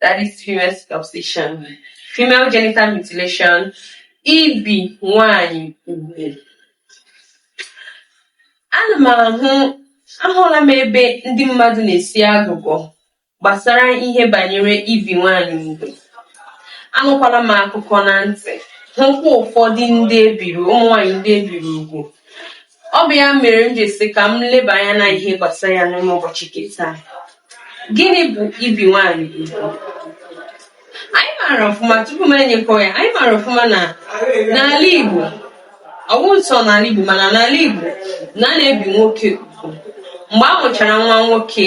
that is female circumcision, female genital mutilation, ibi nwanyị ugwu. Ana m ahụ ahụla m ebe ndị mmadụ na-esi agụgọ gbasara ihe banyere ibi nwanyị ugwu. Anụkwala m akụkọ na ntị, hụkwa ụfọdụ ndị e biri ụmụ nwanyị ndị e biri ugwu Ọ bụ ya mere m ji sị ka m leba anya na ihe gbasara ya n'ime ụbọchị nke taa. Gịnị bụ ibi nwaanyị ugwu? Anyị maara ọfụma tupu m enye nkọwa ya, anyị maara ọfụma na n'ala Igbo, ọ bụghị sọ n'ala Igbo mana n'ala Igbo na a na-ebi nwoke ugwu. Mgbe a mụchara nwa nwoke,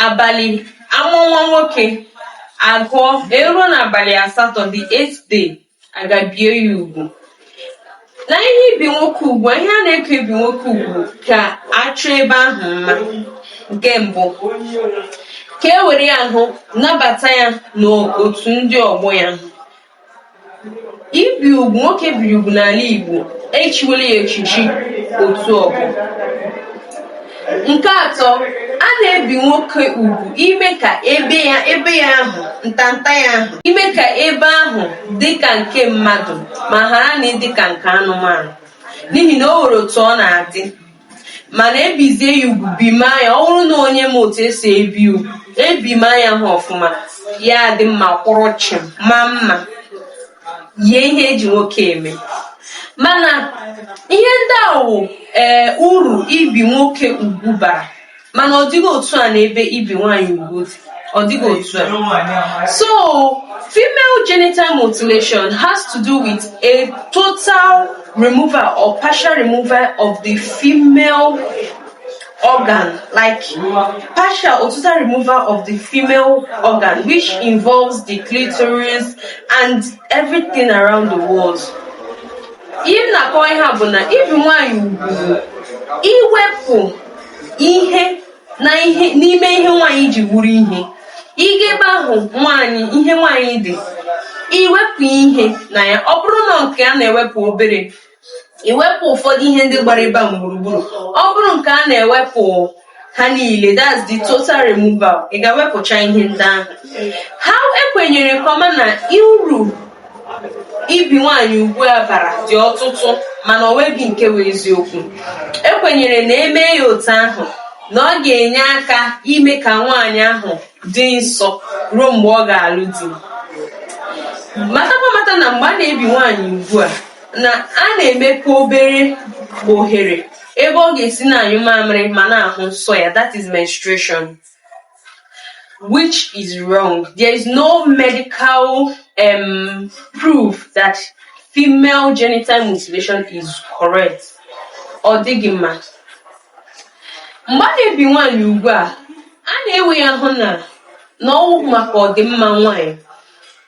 abalị a mụọ nwa nwoke, a gụọ e ruo n'abalị asatọ the eighth day a gaa bie ya ugwu na ihe ibi nwoke ugwu ihe a na-ekwu ibi nwoke ugwu ka a chọọ ebe ahụ mma nke mbụ ka e were ihe ahụ nabata ya n'otu ndị ọgbọ ya ibi ugwu nwoke e biri ugwu n'ala Igbo e chiwela ya echichi otu ọgbọ Nke atọ, a na-ebi nwoke ugwu ime ka ebe ya ahụ ntanta ya ahụ ime ka ebe ahụ dị ka nke mmadụ ma ghara na ịdị ka nke anụmanụ n'ihi na o nwere otu ọ na-adị mana e bizie ya ugwu bima ya ọ bụrụ na onye ma otu e si ebi ugwu ebima ihe ahụ ọfụma ya adị mma kwụrụ chịm maa mma yie ihe e ji nwoke eme mana ihe ndị a wụ ee eh, uru ibi nwoke ugwu bara mana ọ dịghị otu a n'ebe ibi nwaanyị ugwu dị ọ dịghị otu a so female genital mutilation has to do with a total removal or partial removal of the female organ like partial or total removal of the female organ which involves the clitoris and everything around the walls ihe m na-akọwa ihe a bụ na ibi nwaanyị ugwu iwepụ ihe n'ime ihe nwaanyị ji wụrụ ihe ịga ebe ahụ nwaanyị ihe nwaanyị dị iwepụ ihe na ya ọ bụrụ na nke a na-ewepụ obere iwepụ ụfọdụ ihe ndị gbara ebe ahụ gburugburu ọ bụrụ nke a na-ewepụ ha niile that's the total removal ị ga-ewepụcha ihe ndị ahụ ha e kwenyere nke ọma na uru ibi nwaanyị ugwu a bara dị ọtụtụ mana o nweghị nke wụ eziokwu e kwenyere na e mee ya otu ahụ na ọ ga-enye aka ime ka nwaanyị ahụ dị nsọ ruo mgbe ọ ga-alụ di matakwa mata na mgbe a na-ebi nwaanyị ugwu a na a na-emepe obere ohere ebe ọ ga-esi na-anyụ mamịrị ma na-ahụ nsọ ya that is menstruation which is wrong there is no medical um, proof that female genital mutilation is correct ọ dịghị mma mgbe a na-ebi nwaanyị ugwu a a na-ewe ya hụ na na ọwụ maka ọdịmma nwaanyị